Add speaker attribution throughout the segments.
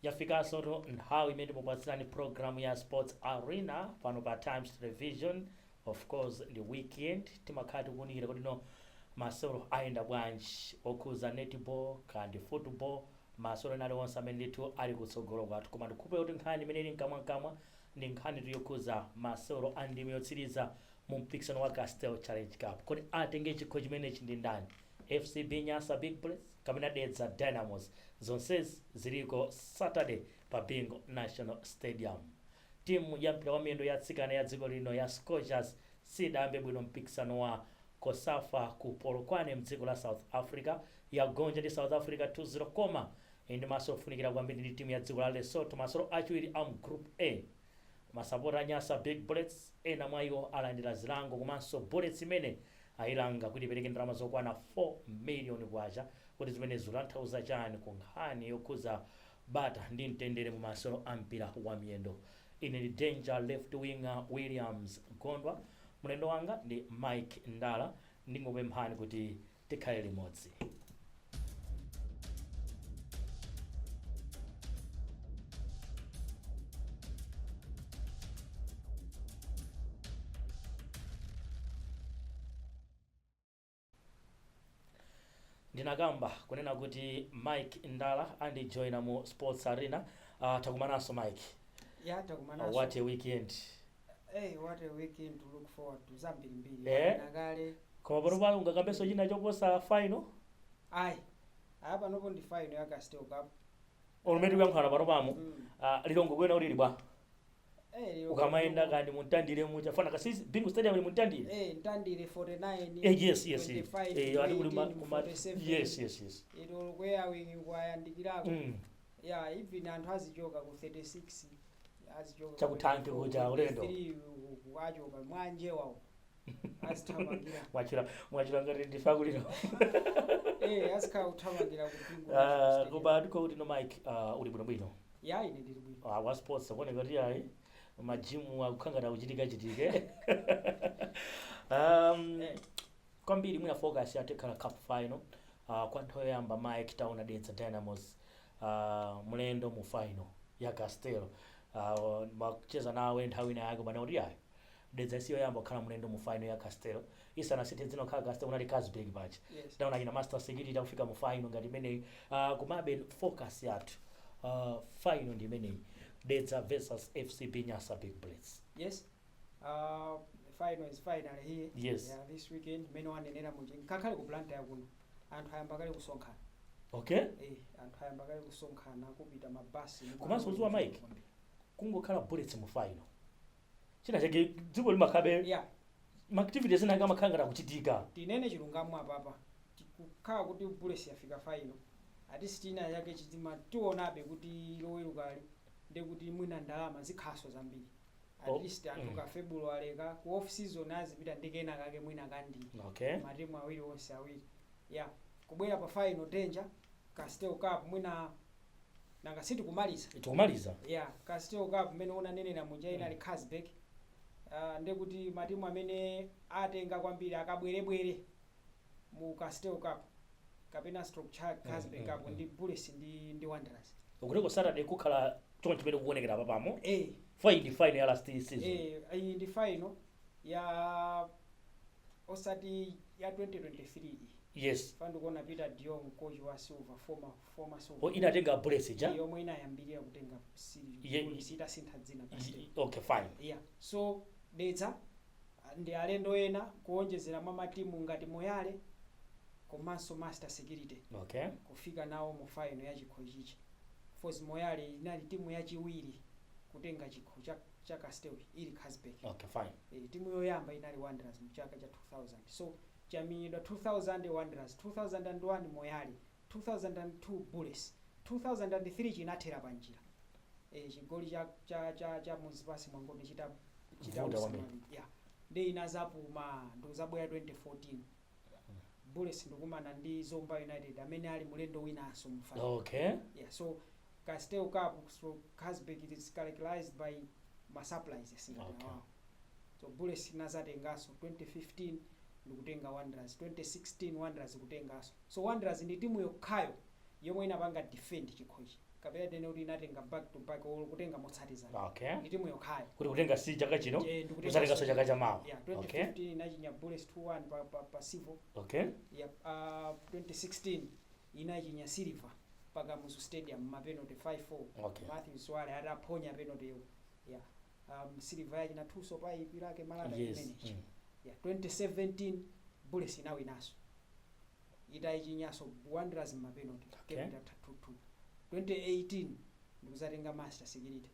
Speaker 1: yafikansotu nthawi imene timakupatsirani programu ya sports arena pano pa times television of course ndi weekend timakhala tikuunikira kuti no masewero ayenda bwanji okhuza netball kandi football masewero ena aliwonse amene ndithu ali kutsogolo kwathu, koma ndikukhulupirira kuti nkhani imene ili mkamwamkamwa ndi nkhanitu yokhudza masewero a ndime yotsiriza mu mpikisano wa Castel Challenge Cup. Kodi atenge chikho chimenechi ndi ndani? FCB Nyasa Big Bullets kapena Dedza Dynamos? Zonsezi ziliko Saturday pa Bingu National Stadium. Timu ya mpira wa miyendo ya atsikana ya dziko lino ya Scorchers sidayambe bwino mpikisano wa Cosafa ku Polokwane mdziko la South Africa. Yagonja ndi South Africa 2 0 koma ili ndi masewero ofunikira kwambiri ndi timu ya dziko la Lesotho masewero achiwiri amu Group A. Masapota a Nyasa Big Bullets ena mwa iwo alandira zilango komanso Bullets imene ailanga kuti ipereke ndalama zokwana K4 million. Kodi zimenezi zikutanthauza chani ku nkhani yokhudza bata ndi mtendere mu masewero a mpira wa miyendo. Ine ndi Danger Left Winger Williams Gondwa, mlendo wanga ndi Mike Ndala, ndingokupemphani kuti tikhale limodzi. ndinakamba kunena kuti mike ndala andijoina mu sports arena uh, takumananso mike ya uh, takumananso
Speaker 2: what a weekend
Speaker 1: hey,
Speaker 2: what a weekend to look forward to zambirimbiri Eh. Wanena
Speaker 1: kale koma pano pano ungakambenso china choposa final
Speaker 2: ayi aya panopo ndi final ya castel cup olo mmene tikuyankhulana
Speaker 1: pano pamo Mm. uh, lilongwe kuyenera ulili bwa Eh, lero ukamayenda ku nankani muntandire muja nanga si bingu stadium ili mu ntandire Eh, ntandire
Speaker 2: 49 Eh, yes yes eh.
Speaker 1: 25, Eh, ali kuli
Speaker 2: ma- 18, kuma- 47.
Speaker 1: yes
Speaker 2: yes yes
Speaker 1: ero
Speaker 2: kwenikweni kwayandikirako Mm. ya even anthu azichoka ku 36 azichoka cha ku thanki kuja,
Speaker 1: ulendo.
Speaker 2: achoka mwanjewawo azithamangira mwachira
Speaker 1: mwachira ngati ndifa kulira
Speaker 2: eh azikhala kuthamangira ku bingu Ah, koma ndiko
Speaker 1: kuti no mike ah, uli bwino bwino ya ine ndili bwino
Speaker 2: Ah, wa sports akuoneka kuti
Speaker 1: ayi majimu akukhala ngati kuchitika chitike um, Eh. kwambiri mwina focus yathu ikhala cup final uh, kwa nthawi yoyamba mike taona dedza dynamos uh, mlendo mu final ya castel uh, macheza nawe nthawi ina yake umanena kuti ayi Dedza si yoyamba kukhala mlendo mu final ya Castel. Isanasinthe dzina kukhala Castel kunali Carlsberg paja. Yes. Tinaona achina Master Security akufika mu final ngati imeneyi. Uh, kumabe focus yathu uh, final ndi imeneyi. Dedza versus FCB Nyasa Big Bullets. yes
Speaker 2: uh, the final is finally here Yes. yeah, this
Speaker 1: weekend
Speaker 2: mmene wanenera muja ngakhale ku blantyre kuno anthu ayamba kale kusonkhana Okay? eh,
Speaker 1: anthu ayamba
Speaker 2: kale kusonkhana kupita mabasi ndi Komanso malo uziwa Mike? kwambiri.
Speaker 1: kungokhala bullets mu final china chake dziko limakhabe yeah
Speaker 2: ma activities
Speaker 1: ena akamakhala ngati akuchitika tinene chilungamo
Speaker 2: apapa kukhala kuti bullets yafika final at least china chake chiima tionabe kuti lowerukali ndi kuti mwina ndalama zikhaso zambiri Oh, at least anthu mm. ka february ka ku off season azipita ndi kena kake mwina kandi okay matimu
Speaker 1: awiri onse
Speaker 2: awiri yeah kubwera pa final danger castel cup mwina nanga sitikumaliza tikumaliza ya castel cup mmene unanenera muja inali carlsberg uh, ndi kuti matimu amene atenga kwambiri akabwerebwere mu castel cup kapena stroke cha carlsberg mm, cup mm, ndi bullets ndi, ndi wanderers ukutiko saturday
Speaker 1: kukhala choncho chimene kukuonekera apa pamo eh, final ndi final ya last season eh, iyi ndi
Speaker 2: final ya osati ya 2023 iyi yes
Speaker 1: apa ndikuona pieter
Speaker 2: de jongh coach wa silver former former silver O, inatenga bullets
Speaker 1: ija yomwe inayambirira
Speaker 2: kutenga sili Ye- polisi itasintha dzina castel. I- okay fine
Speaker 1: yeah
Speaker 2: so dedza ah, ndi alendo ena kuonjezera mwa matimu ngati moyale komanso master security okay kufika
Speaker 1: nawo
Speaker 2: mu final ya chikho chichi of course moyale inali timu yachiwiri kutenga chikho cha, cha castel ili carlsberg okay fine e,
Speaker 1: timu yoyamba inali
Speaker 2: wanderers mu chaka cha 2000 so chamenyedwa 2000 wanderers 2001 moyale 2002 bullets 2003 chinathera panjira ee chigoli cha cha cha cha muzipasi mwangonde chita chitavuta kwambiri. usamali yeah nde inazapuma ndikuzabwera 2014 bullets ndikumana ndi zomba united amene ali mulendo winanso mu final okay yeah so castel cup so carlsberg it is characterized by ma surprises ngati Okay. awawa. so bullets inazatenganso 2015 ndikutenga wanderers 2016 wanderers kutenganso So Wanderers ndi timu yokhayo yomwe inapanga defend chikhochi kapena tinene kuti inatenga back to back or kutenga motsatizana. Okay. Ndi timu yokhayo.
Speaker 1: Kuti
Speaker 2: kutenga si chaka chino,
Speaker 1: Eh, ndi kutenga kuzatenganso chaka cha
Speaker 2: mawa. Yeah,
Speaker 1: Okay. 2015 inachinya
Speaker 2: Bullets 2-1 pa pa, pa Civo. Okay. yeah uh, 2016 inachinya silver pa kamuzu stadium mapenalty 5-4 Okay.
Speaker 1: mathews sibale
Speaker 2: ataphonya penalty yo ya um, Silver yachina thuso pa ipi lake malata Yes, imenechi
Speaker 1: mm. ya
Speaker 2: 2017 bullets inawinaso itayichinyaso wanderers mmapenalty Okay. game itatha 2-2
Speaker 1: 2018
Speaker 2: ndikuzatenga Masters Security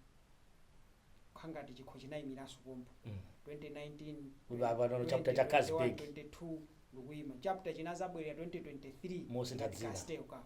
Speaker 2: khangati chikho chinayimiraso pompo Mm. 2019 Uyu apa ndo
Speaker 1: chapter cha Carlsberg. 22 ndikuyima
Speaker 2: chapter chinazabwerera 2023 Mosintha dzina. Castel
Speaker 1: Cup.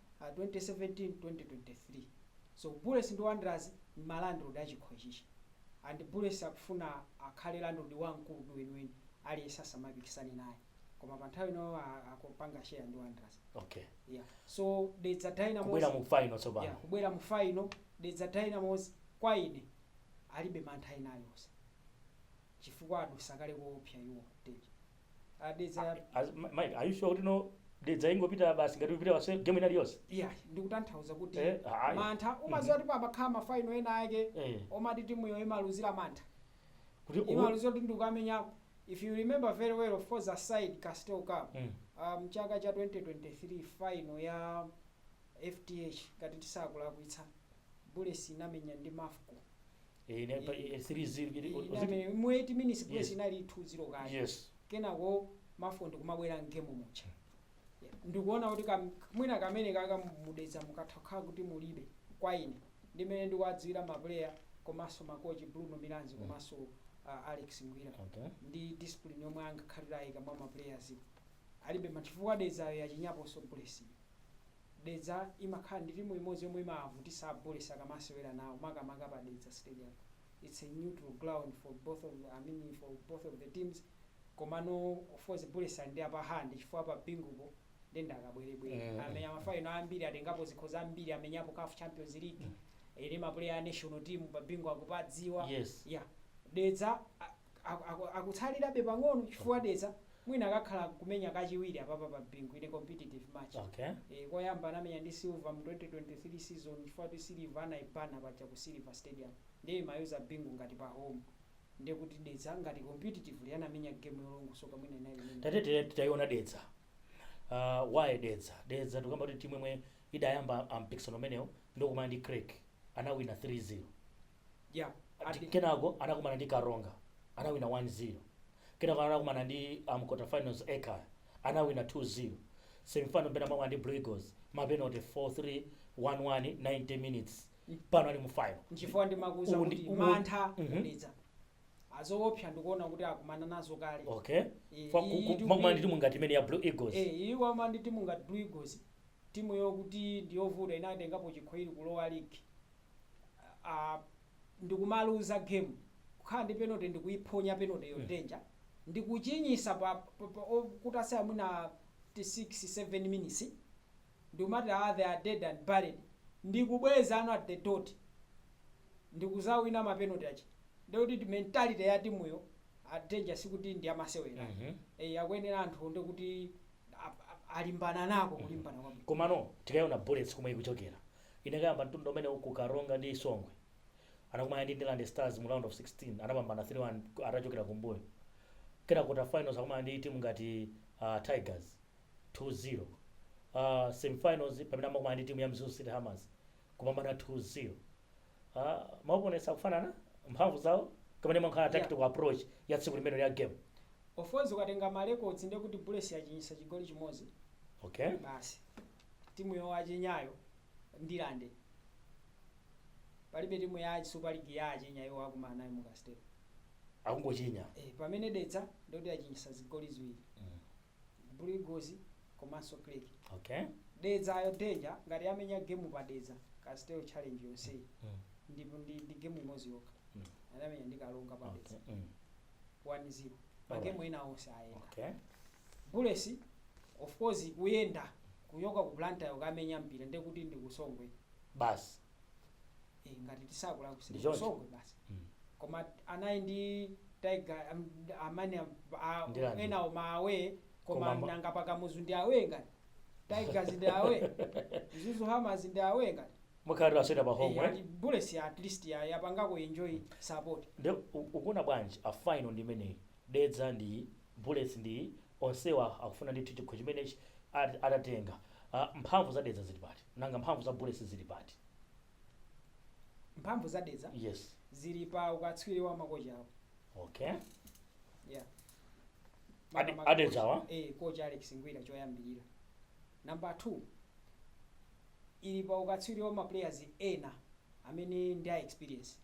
Speaker 2: 2017 2023 so bullets ndi Wanderers ndi ma landlord a chikho chichi and bullets akufuna akhale landlord wamkulu ndi weniweni aliyense asamapikisane naye koma panthawi ino akupanga share ndi Wanderers okay
Speaker 1: yeah
Speaker 2: so dedza dynamos kubwera mu final
Speaker 1: tsopano yeah, kubwera mu
Speaker 2: final dedza dynamos kwa ine alibe mantha ena alionse chifukwa adusa kale koopsa iwo Dedza adedza As- Ma- Mike, are
Speaker 1: you sure kuti no dedza ingopita basi ngati ikupita pa game inali yonse? iya
Speaker 2: ndikutanthauza kuti Eh, ayi. mantha
Speaker 1: umadziwa kuti
Speaker 2: pamakhala mafaino ena ake Eh. omati timuyo imaluzira mantha Kuti uku-
Speaker 1: imaluzira kuti
Speaker 2: ndikukamenya if you remember very well of course aside castel cup Mm. um, chaka cha 2023 final ya fdh ngati tisakulakwitsa bullets inamenya ndi mafco Eh, ne- pa- eh,
Speaker 1: 3-0 kuti- kuti- Iname mu 8 minutes Yes.
Speaker 2: yes. inali
Speaker 1: 2-0
Speaker 2: kale. Yes. Kenako Mafco ndikumabwera mgame mucha. Yeah. Ndikuona kuti kam- mwina kamene kaka mu Dedza mukatha kukhala kuti mulibe kwa ine. Ndi mmene ndikuwadziwira ma player komanso makochi Bruno Milanzi Mm. komanso uh, Alex Ngwira. Okay. ndi
Speaker 1: discipline
Speaker 2: yomwe angakhale atayika mwa maplayers alibe machifukwa Dedzayo yachinyaponso Bullets Dedza imakhala ndi timu imodzi yomwe imawavutisa a bullets akamasewera nawo makamaka pa dedza stadium its a neutral ground for both of i mean for both of the teams komano of course bullets ali ndi upper hand chifukwa pa bingupo nde ndi akabwerebwere amenya ma final ambiri atengapo zikho zambiri amenyapo caf champions league ena ma player a national team pa bingu akupadziwa Yes. yeah
Speaker 1: dedza
Speaker 2: ah, akutsalirabe pang'ono chifukwa Dedza mwina akakhala kumenya kachiwiri apapa pa Bingu in a competitive match okay ee koyamba
Speaker 1: anamenya
Speaker 2: ndi Silver mu 2023 season chifukwa choti Silver anaibana paja ku Silver Stadium ndiye imayuza Bingu ngati pa home ndiye kuti Dedza ngati competitively anamenya game yolongosoka mwina inali imeneyi. tate tate titaiona
Speaker 1: Dedza uh, why Dedza Dedza tikamba kuti timu imwe idayamba ampikisano umenewo ndi kukumana ndi Creck anawina 3-0
Speaker 2: ya Ati- adi-
Speaker 1: kenako anakumana ndi karonga anawina 1-0 kenako anakumana ndi um, quarter finals ekaya anawina 2-0 semifinal pena mwakumana ndi Blue Eagles mapenalty 4-3 1-1 90 minutes pano ali mu final nchifukwa ndimakuuza
Speaker 2: Uwu ndi- kuti uwu- mantha Mhm. ku Dedza azoopsa ndikuona kuti akumana nazo kale okay Eh, Fa-
Speaker 1: ku- iyi ku- ndi mwakumana kuti- ndi timu ngati imene ya blue eagles Eh, iyi wama ndi timu
Speaker 2: ngati Blue Eagles timu yokuti ndiyovuta inatengapo chikho ili kulowa ligi ah, ndikumaluza game kukhala ndi penalty ndikuiphonya penalty yo danger ndikuchinyisa pa, pa, pa o- kutatsala mwina 6 7 minutes ndikumati ah, they are dead and buried ndikubweza ano at the dot ndikuzawina mapenalty aja ndekuti mentality ya timuyo ah, danger sikuti ndi yamasewera Mhm. eh, akuyenera anthu nde kuti a- a- alimbana nako kulimbana kwabwino komano tikaona
Speaker 1: bullets komwe ikuchokera Inakayamba mtundu umenewu ku Karonga ndi Songwe. Anakumana ndi Ndirande Stars mu round of 16 anapambana 3 1 atachokera kumbuyo. Kenako quarter finals akumana ndi timu ngati uh, Tigers 2 0. Uh, semifinals pamene amakumana ndi timu ya Mzuzu City Hammers kupambana 2 0. Uh, maopponents akufanana mphamvu zawo kamene imakhala Yeah. tactical approach ya tsiku limene ya game. Of course ukatenga
Speaker 2: ma records ndiye kuti Bullets yachinyisa chigoli chimodzi Okay. basi. timu yowachinyayo ndirande palibe timu ya super league yawachinya iwo akumana nayo mu castel akungochinya
Speaker 1: eh, pamene dedza
Speaker 2: ndi yoti yachinyisa zigoli ziwiri blue eagles komanso creck
Speaker 1: okay
Speaker 2: dedzayo danger ngati yamenya game pa dedza castel challenge yonseyi ndipo ndi, ndi game imodzi yokha anamenya ndi karonga pa dedza okay. mm. 1-0 magemu ena onse ayenda
Speaker 1: okay
Speaker 2: bullets of course kuyenda kuchoka ku blantyre kukamenya mpira ndiye kuti ndi ku songwe basi
Speaker 1: eh,
Speaker 2: ngati tisakula Ndicho- kusikusongwe basi Mm. koma anayi ndi tiger am- amene am- a- Ndirande?
Speaker 1: enawo ma
Speaker 2: away koma Koma ma- nanga pa
Speaker 1: kamuzu ndi
Speaker 2: away ngati tigers ndi away mzuzu hammers ndi away ngati Mukhala mutasewera pa
Speaker 1: home eh? ati bullets ya
Speaker 2: at least ya yapangako enjoy support Nde u-
Speaker 1: ukuona bwanji a final ndi imeneyi dedza ndi bullets ndi onsewa akufuna ndithu chikho chimenechi at- atatenga Ah, mphamvu za dedza zili pati nanga mphamvu za bullets zili pati
Speaker 2: mphamvu za dedza yes zili
Speaker 1: pa
Speaker 2: ukatswiri wa makocha awo okay yeah Ade- Makamaka
Speaker 1: adedzawa? kocha- eh kocha alex ngwira
Speaker 2: choyambirira Number 2 ili pa ukatswiri wa ma players ena amene ndi a experience.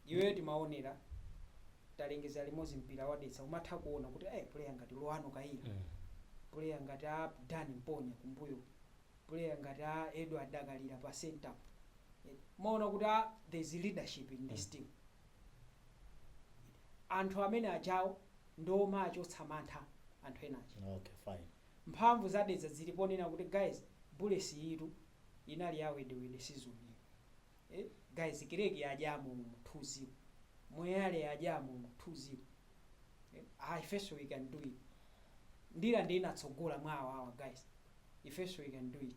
Speaker 2: Iweyo timaonera talengeza limodzi mpira wa Dedza umatha kuona kuti eh player ngati Lughano Kayira, player ngati a Dan Mponya kumbuyo, player ngati a Edward Dakalira pa center. Umaona kuti ah there is leadership in this team. Anthu amene ajawo ndi omachotsa mantha anthu ena aja. Okay, fine.
Speaker 1: Mphamvu za Dedza
Speaker 2: zili ponena kuti guys Bullets iyitu inali ya wedewede season ino eh guys Creck yadyamo umu 2 zero Moyale yadyamo umu 2 zero eh ah ifenso we can do it Ndirande inatsogola mwa awawa guys ifenso we can do it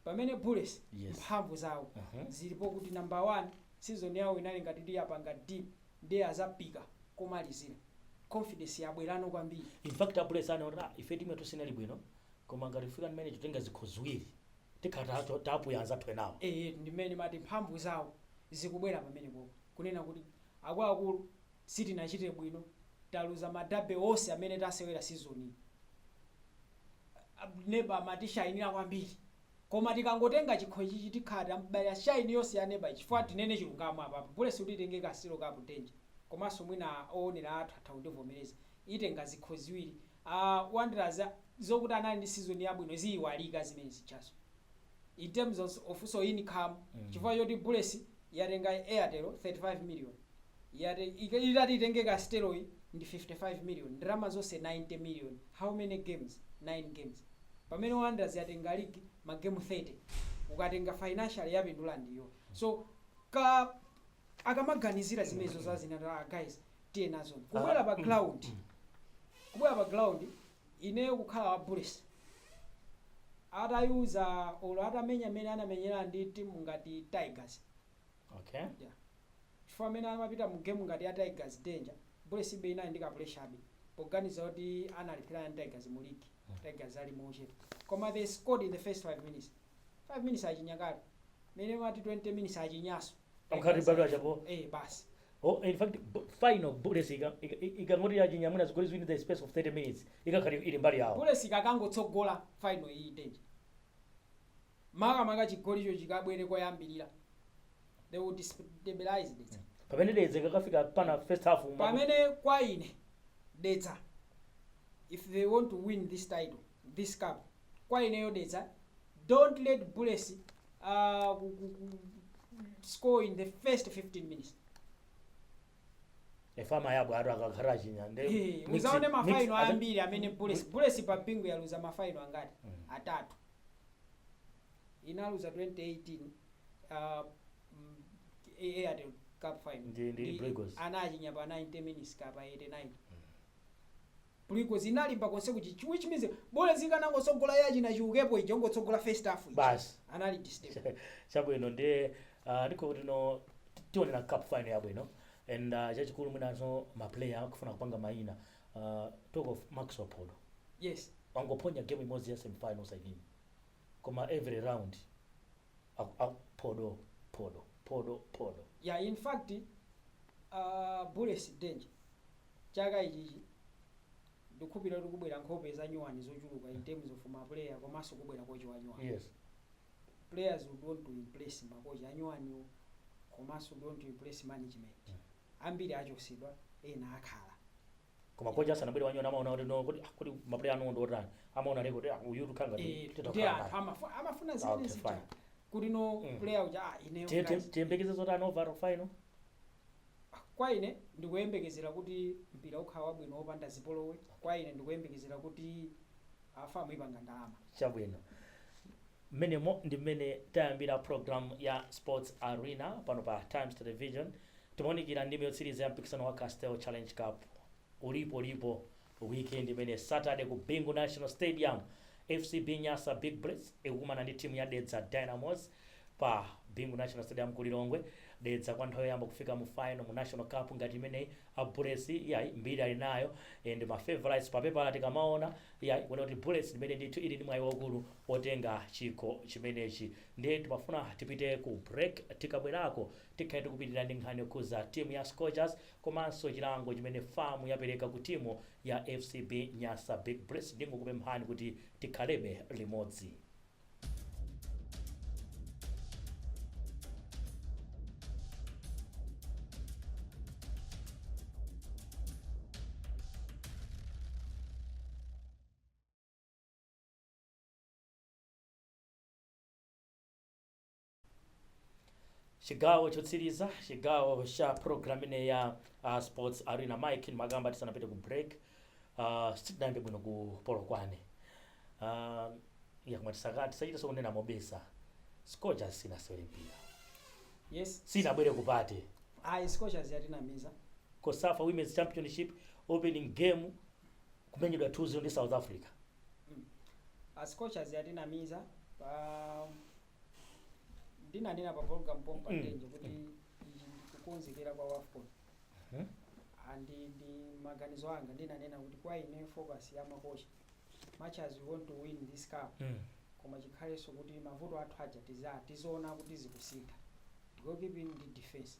Speaker 2: pamene Bullets Yes. mphamvu zawo
Speaker 1: Mhm.
Speaker 2: zili pokuti number 1 season yawo inali ngati kuti yapanga dip nde azapika komalizila confidence yabwelano kwambiri. In fact a Bullets
Speaker 1: anaona kuti ah ife team yathu sinali bwino koma ngati kufika mmenechi kutenga zikho ziwiri tikhala tapuya anzathu enawo. Eetu ndi mmene ndimati
Speaker 2: mphamvu zawo zikubwera pamenepopo kunena kuti akuluakulu sitinachite bwino taluza ma derby onse amene tasewera season iyi neba amatishainila kwambiri. koma tikangotenga chikho ichichi tikhala tam'bayila shine yonse ya neba chifukwa tinene chilungamo apapa bullets kuti itenge castel cup danger komanso mwina owonera athu atha kundivomereza itenga zikho ziwiri aah wanderers zokuti anali ndi season yabwino ziyiwalika zimene zijazo in terms of so income chifukwa choti bullets yatenga airtel 35 million yati itati itenge Castel iyi ndi 55 million ndalama zonse 90 million how many games 9 games pamene Wanderers yatenga league ma game 30 ukatenga financially yapindula ndi iyo so ka akamaganizira zimenezo za zina ta guys tiye nazoni kubwera pa ground ineyo kukhala wa Bullets atayuza olo atamenya mene anamenyera ndi timu ngati Tigers Okay. Yeah. Chifukwa mmene amapita mu game ngati ya Tigers danger. Bullets ibe inali ndi ka pressure abe. Poganiza kuti analepherana ndi Tigers mu league. Tigers ali mu uche. Koma they scored in the first 5 minutes. 5 minutes achinya kale. Mene imati 20 minutes achinyaso. Mkhati bado
Speaker 1: achapo. Eh
Speaker 2: basi. Oh, in
Speaker 1: fact, bu- final Bullets ika- ika- ikangoti yachinya mwina zigoli ziwiri in the space of 30 minutes. Ikakhala ili mbali yawo. Bullets ikakangotsogola
Speaker 2: final iyi danger. makamaka chigolicho chikabwere koyambirira they will destabilize Dedza. pamene Dedza
Speaker 1: ikakafika pana first half mwa- pamene kwa ine
Speaker 2: Dedza if they want to win this title this cup kwa ineyo Dedza don't let Bullets uh, ku- ku- ku- score in the first 15
Speaker 1: minutes efama yabwe atu akakhala achinya nde Eh, mix- uzaone mix- mafaino
Speaker 2: aza- ambiri amene Bullets Bullets pa Bingu yaluza mafaino angati atatu inaluza 2018 uh, airtel cup final Ndi- ndi Blue Eagles.
Speaker 1: anachinya pa 90
Speaker 2: minutes kapena 89 Blue Eagles inalimba konse kuti which means Bullets ikanangotsogola ya china Chiukepo ija kungotsogola first half ija. Basi.
Speaker 1: anali
Speaker 2: disturb chabwino
Speaker 1: ndiye ah, ndiko kuti no ti- tione na cup final yabwino and ah, chachikulu mwinanso maplayer akufuna kupanga mayina Aaa talk of max phodo
Speaker 2: yes wangophonya game
Speaker 1: imodzi ya semi final osayiwina koma every round aku aku phodo phodo phodo phodo. Ya in
Speaker 2: fact aah bullets danger chaka ichichi ndikukhulupilira kuti kubwera nkhope zanyuwani zochuluka in terms of ma player komanso kubwera coach wanyuwani Yes.
Speaker 1: players
Speaker 2: would want to impress ma coach anyuwaniwo komanso would want to impress management. Ambiri achotsedwa ena akhala. Koma coach
Speaker 1: asanabwere wanyuwani amaona kuti no kuti ah, kuti maplayer anuwo ndi otani amaona leko kuti ah, uyu tukhala ngati Eh, titha ndi kukhala anthu naye.
Speaker 2: amafu- amafuna Ah, zimene okay, zija fine. kuti no Mm. player uja
Speaker 1: ah, ineyo
Speaker 2: Tiye- tiye-
Speaker 1: guys,
Speaker 2: tiyembekeze zotani
Speaker 1: overall
Speaker 2: final kwa ine ndikuyembekezera kuti mpira ukhala wabwino wopanda zipolowe kwa ine ndikuyembekezera kuti a FAM ipanga ndalama chabwino
Speaker 1: Mmenemo ndi mmene tayambira pulogalamu ya Sports Arena pano pa Times Television. Timaunikira ndime yotsiriza ya mpikisano wa Castel Challenge Cup. Ulipo, ulipo weekend imeneyi. Saturday ku Bingu National Stadium, FCB Nyasa Big Bullets ikukumana ndi timu ya Dedza Dynamos pa Bingu National Stadium ku Lilongwe. Dedza kwa nthawi yoyamba kufika mu final mu National Cup ngati imeneyi. A Bullets yayi mbiri ali nayo and ma favorites pa pepala tikamaona yayi kuona kuti Bullets ndi imene ndithu ili ndi mwayi waukulu otenga chikho chimenechi nde timafuna tipite ku break tikabwerako tikhale tikupitilira ndi nkhani yokhuza timu ya Scorchers komanso chilango chimene FAM yapereka ku timu ya FCB Nyasa Big Bullets ndingokupemphani kuti tikhalebe limodzi. chigawo chotsiriza chigawo cha program ino ya uh, sports arena mike ndimakamba tisanapite ku break uh, sitinayambe bwino ku polokwane uh, ya kuti mwa tisakati tisachite zokunena mobisa scorchers sinasewere mpira yes
Speaker 2: sinabwere ku
Speaker 1: party ayi scorchers
Speaker 2: yatinamiza cosafa women's
Speaker 1: championship opening game kumenyedwa 2-0 ndi south africa. mm. a
Speaker 2: scorchers yatinamiza pa ndinanena pa program pompa Mm. Ndenje kuti ichi ndikukonzekera kwa wafcon Mhm. and ndi maganizo anga ndinanena kuti kwa ine focus ya makochi much as we want to win this cup Mm. koma chikhalenso kuti mavuto athu aja tiza tizoona kuti zikusintha goalkeeping ndi defense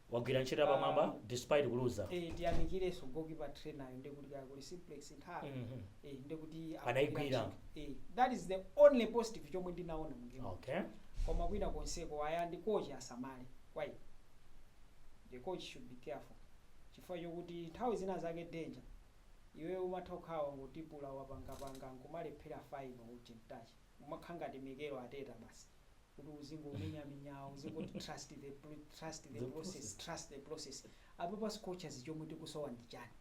Speaker 1: Wagwira ntchito yapamwamba Ah. despite kuluza. Eh,
Speaker 2: tiyamikireso goalkeeper trainer nde kuti kaya kuli simplex nthawi Mhm. eh, nde kuti Adaigwira.
Speaker 1: eh, that is the
Speaker 2: only positive chomwe ndinaona mu game Okay. koma kwina
Speaker 1: konseko
Speaker 2: ayayi coach asamale why the coach should be careful chifukwa chokuti nthawi zina zake danger iwe umatha kukhala wangotipula wapangapanga nkumalephera final touch umakhala ngati Mikel Arteta basi kuti uzingomenyamenyabe uzingoti trust the, pr- trust the, The process, process. trust the process apapa scorchers chomwe tikusowa ndi chani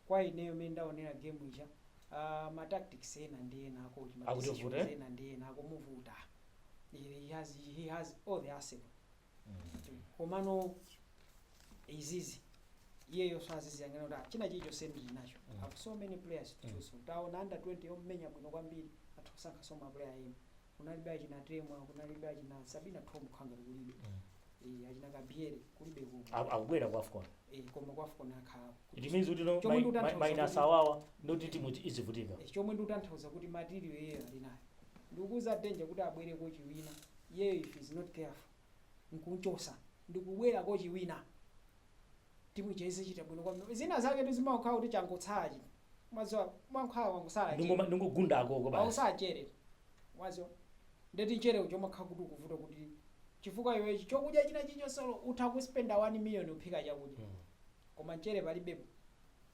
Speaker 2: kwa ineyo mene ndaonera game ija uh, ma tactics ena ndi ena akumu- ma Akuti decisions uvute? ena ndi ena akumuvuta he has, he has all the arsenal komano izizi iyeyoso aziziyang'ana kuti ah, china chilichonse ndili nacho Mm. have so many players to Mm. choose from taona under 20 yomenya bwino kwambiri atha kusankhaso maplayer ena kunalibe achina temwa kunalibe achina sabina tom khanga kulibe Eh, achina Kabzere kulibe kuno Aku- akubwera ku
Speaker 1: afcon Eh, koma ku
Speaker 2: afcon akhala it means kuti no Chomwe
Speaker 1: mai- ndikutanthauza mai- kuti- minus awawa ndoti timu izivutika Eh, chomwe ndikutanthauza
Speaker 2: kuti material iyeyo ali nayo ndikukuuza danger kuti abwere kochi wina iyeyo if he is not careful nkunchosa ndikubwera kochi wina timu ija izichita bwino kwambiri zina zaketu zimakhala kuti changotsala chino maziwa mankhwala wangosala mchere. Ndungoma- ndungogunda
Speaker 1: akoko basi awusa mchere
Speaker 2: wazo ndeti nchere uja umakhala kuti ukuvuta kuti chifukwa iwe ichi chokudya china chilichonsecho utha kuspenda 1 million kuphika chakudya Mm. koma nchere palibepo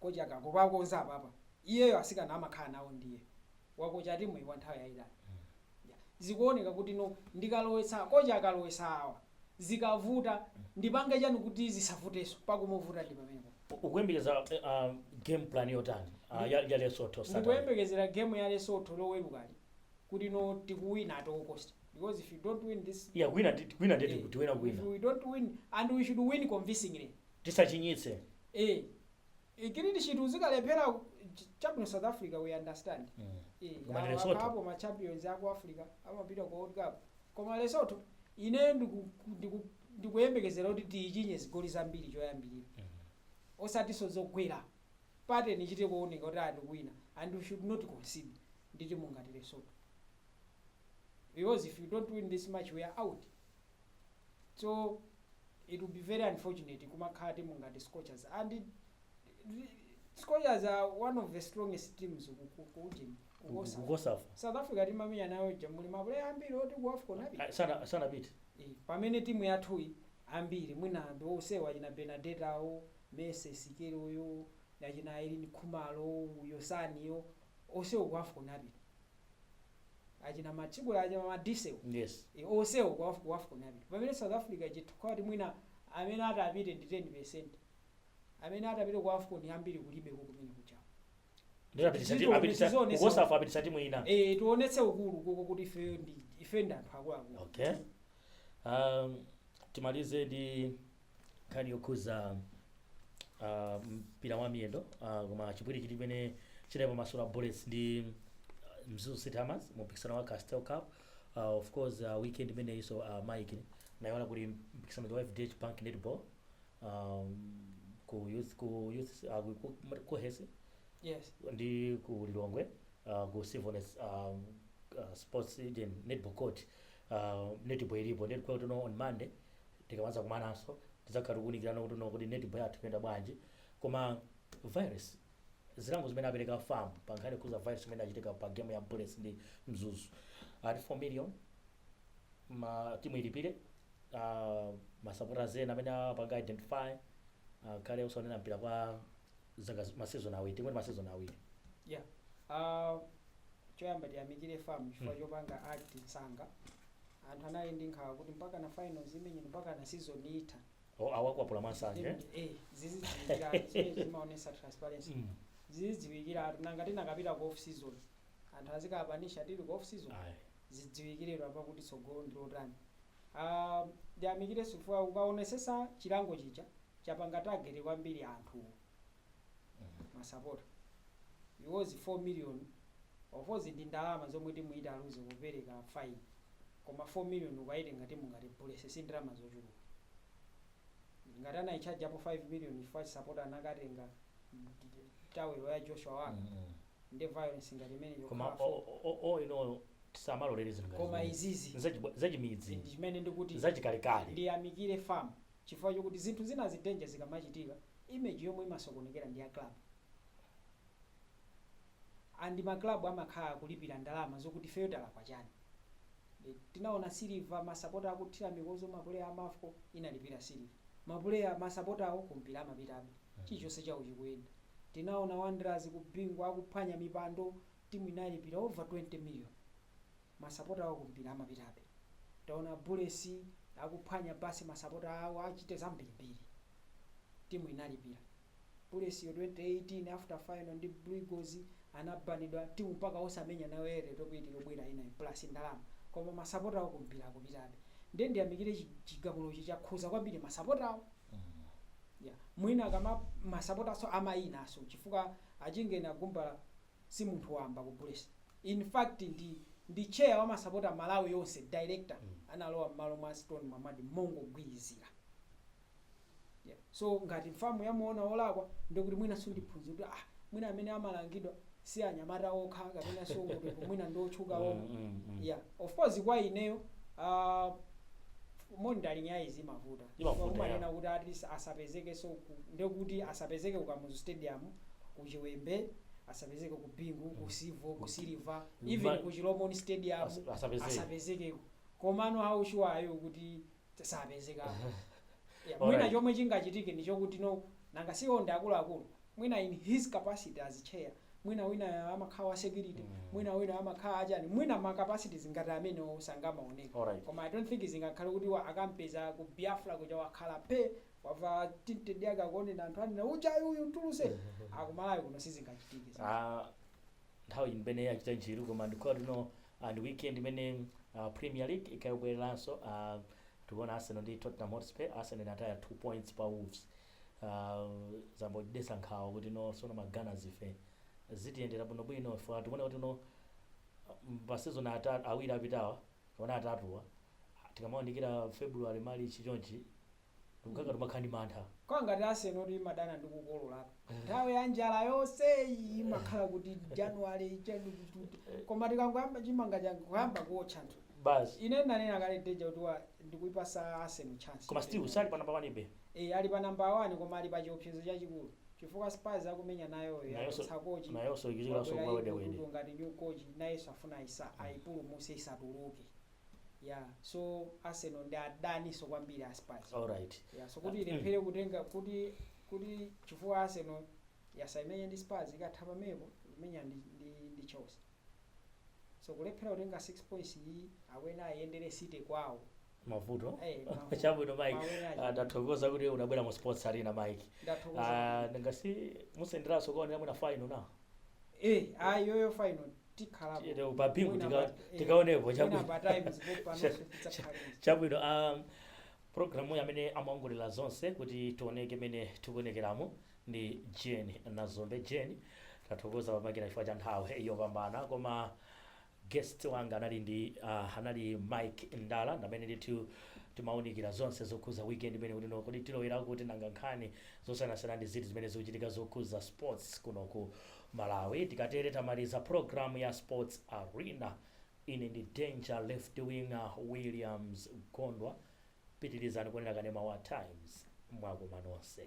Speaker 2: kocha akangokonza apapa iyeyo asikana amakhala nawo ndiye wakocha timu iyi kwa nthawi yayitali Ya. zikuoneka kuti no ndikalowetsa kocha akalowetsa awa zikavuta ndipange chani kuti zisavutenso pakumuvuta ndi pamenepo U- ukuyembekeza eh,
Speaker 1: ah, game plan yotani ah, ya ya lesotho Saturday? ndikuyembekezera game
Speaker 2: ya lesotho lowerukali kuti no tikuwina at all cost because if you don't win this yeah kuwina ndi- kuwina ndeti
Speaker 1: kuti tiwina if kuwina we don't win
Speaker 2: and we should win convincingly
Speaker 1: tisachinyitse
Speaker 2: eh clean sheet zikalephera ku- ch- chabwino south africa we understand Mm. eh Koma ndi awa Lesotho. kapo ma champions aku africa amapita ku world cup koma lesotho ine ndiku- ndiku- ndikuyembekezera kuti tiyichinye zigoli zambiri choyambirira osatiso zogwera pateni ichite kuoneka kuti ah tikuwina and we should not concede ndi timu ngati lesotho because if you don't win this match we are out so it will be very unfortunate kumakhala timu ngati scorchers and it- scorchers are one of the strongest teams ku- ku- ku ujeni kukosa
Speaker 1: kukosafa south africa
Speaker 2: timamenya nayo ija muli mapuleya ambiri oti ku afcon api- sana- sanapite
Speaker 1: Eh, pamene
Speaker 2: timu yathuyi ambiri mwina ndi osewa achina benadeta awo Mercy Sikelo uyo achina Irene Khumalo uyo Sani uyo osewa ku afcon apita achina mathibula achina madisel yes e,
Speaker 1: onsewo ku Af-
Speaker 2: ku afcon apita pamene south africa chifukwa kuti mwina amene ati apite ndi 10 percent amene ati apite ku afcon ambiri kulibeko kumene kuchawo ndiye apitisa Zito- apitisa
Speaker 1: zizone ku cosafa apitisa timu ina e, tionetse
Speaker 2: ukulu koko kuti ifeyo ndi ife ndi anthu akuluakulu okay
Speaker 1: um, timalize ndi nkhani yokhuza uh, mpira wa miyendo uh, koma chipwirikiti chimene chinali pa masewero a bullets ndi uh, mzuzu city hammers mu mpikisano wa castel cup uh, of course uh, weekend imeneyinso uh, mike nayiona kuti mpikisano wa fdh bank netball um, ku youth ku youth uh, ku- ku- ku hesi yes
Speaker 2: ndi
Speaker 1: ku lilongwe uh, ku civoness um, uh, sports eden netball court uh, netball ilipo netball tuno on monday Tikamadzakumananso, tidzakhala tikuunikirana kuti no kodi netball yathu ikuyenda bwanji. Koma violence, zilango zimene apereka fam pa nkhani yokhudza violence imene inachitika pa game ya Bullets ndi Mzuzu, ati 4 million ma timu ilipire, ah, ma supporters ena amene apanga identify akhale osaonera mpira kwa. zaka zi- ma season awiri tingoti ma season awiri
Speaker 2: yeah uh, choyamba tiyamikire fam chifukwa Mm. chopanga act msanga anthu anali ndi nkhawa kuti mpaka na finals imenye mpaka na season itha O, awakwapula
Speaker 1: masanje Then, eh, zizidziwikira
Speaker 2: anthu zimene zimaonesa transparency Mm. zizidziwikira anthu nanga tinakapita ku off season anthu azikapanisha tili ku off season Ayi. zidziwikiretu apa kuti tsogolo ndilotani Ah, ndiyamikirenso chifukwa ukaonesesa chilango chija chapanga target kwambiri anthu masapota because 4 million of course ndi ndalama zomwe timu italuze popereka fine koma 4 million ukaitenga timu ngati bullets si ndalama zochuluka ngati anaitchajapo 5 million chifukwa sapota anakatenga tawelo ya joshua waka ndi violence ngati imene koma yokhala o-
Speaker 1: four. o- o- o ino tisamalolere zinthu ngati koma zimenezi. izizi
Speaker 2: Zachi- zachimidzi ndi
Speaker 1: chimene ndikuti
Speaker 2: zachikalekale ndiyamikire
Speaker 1: fam
Speaker 2: chifukwa chokuti zinthu zinazi danger zikamachitika image yomwe imasokonekera ndi ya club and ma club amakhala akulipira ndalama zokuti ifeyo talakwa chani eti? Tinaona Silver masapota akuthira mikozo ma player a Mafco inalipira Silver. Ma player ma sapota awo ku mpira amapitabe. Chilichonse chawo chikuyenda. Tinaona Wanderers ku Bingu akuphwanya mipando timu inalipira over 20 million. masapota awo kumpira amapitabe taona bullets akuphwanya bus masapota awo achite zambirimbiri timu inalipira bullets yo 2018 after final ndi blue eagles anabanidwa timu mpaka osamenya nawo airtel top 8 yobwera inayo plus ndalama koma masapota awo kumpira akupitabe ndiye ndiyamikire chi- chigamulochi chakhuza kwambiri masapota awo yeah. mwina kama masapotaso amayinaso chifukwa achingeni agumbala si munthu wamba ku bullets in fact ndi chair wa masapota malawi yonse director analowa mmalo mwa stone mwamadi mongogwirizira yeah. so ngati mfamu yamuona olakwa ndikuti mwina sundiphunzira kuti ah mwina amene amalangidwa si anyamata okha kapena so kuti mwina ndi otchuka omwe Mm, mm, mm. yeah of course kwa ineyo uh, monitoring yayi zimavuta Chifukwa Imavuta ya. kumanena kuti at least asapezekenso ku, ndekuti asapezeke ku Kamuzu Stadium, ku Chiwembe, asapezeke ku Bingu, ku Civo, ku Silver, Mma- even ku Chilomoni Stadium As- asapezeke. asapezekeko. Komano how sure are you kuti t- sapezekako? Yeah, Alright. Mwina chomwe chingachitike ndichokuti no nanga siwo ndi akuluakulu mwina in his capacity as chair mwina winayo amakhala wa security mwina winayo amakhala achani mwina ma capacities ngati amenewo sangamaoneke Alright. koma i dont think zingakhale kuti wa- akampeza ku biafra kuja wakhala phee wavala tinted yake akuonena anthu anena ujayu uyu mtuluse akuma layo kuno sizingachitike
Speaker 1: Ah, nthawi imene yachita njiru koma ndikuti no ah, ndi weekend imene ah, premier league ikhale ikubwereranso ah, tiona arsenal ndi tottenham hotspur arsenal inataya 2 points pa wolves uh, zayamba kutidetsa nkhawa kuti no sono ma gunners ife zitiyendera bwino bwino ife tikuona kuti no pa season ata- awiri apitawa kapena atatuwa tikamayandikira february march chonchi tikukaka timakhala ndi mantha kukhala ngati arsenal
Speaker 2: kuti imadana ndi kukololako nthawi ya njala yonse iyi imakhala kuti january chatukututu koma tikangoyamba chimanga changoyamba kuotcha nthu basi ine nanena
Speaker 1: kale
Speaker 2: deja kuti wa- ndikuipasa arsenal chance koma still sali pa number 1 ibe
Speaker 1: Eee ali pa
Speaker 2: number 1 koma ali pa chiopsezo chachikulu chifukwa spurs akumenya nayoyo yachotsa coach
Speaker 1: wabwera igor tudor ngati new coach
Speaker 2: nayenso afuna aisa aipulumuse isatuluke ya so arsenal ndi adaninso kwambiri a spurs ya so
Speaker 1: kuti
Speaker 2: ilephere kutenga kuti kuti chifukwa arsenal yatsala imenye ndi spurs ikatha pamenepo imenya ndi, ndi, ndi chelsea so kulephera kutenga 6 points iyi awina ayendere city kwawo mavuto
Speaker 1: Eh, mavuto. chabwino mike Mawere Ah, aja. ndathokoza kuti unabwera mu sports arena mike Ndathokoza. Ah, ngati simusenderanso kukaonera mwina final na Eh, ah,
Speaker 2: iyoyo final tikhalapo. Tiyeteko pa bingu Mwina tika-
Speaker 1: pa- eh, tikaonepo, mwina chabwino. pa time zipo panonso tidzakhale. chabwino um, programuyi amene amaongolera zonse kuti tioneke mene tikuonekeramo ndi jeni nazombe jeni tathokoza pamakina chifukwa cha nthawi yopambana koma Guest wanga anali uh anali Mike Ndala ndamene ndithu timawunikira zonse zokhuza weekend imene kuti no kodi tilowera kuti nanga nkhani zosiyanasiyana ndi ziti zimene zikuchitika zokhuza sports kuno ku Malawi tikatere tamaliza program ya sports arena ine ndi Danger Left Winger Williams Gondwa pitilizani kuonera kanema wa times mwakoma nonse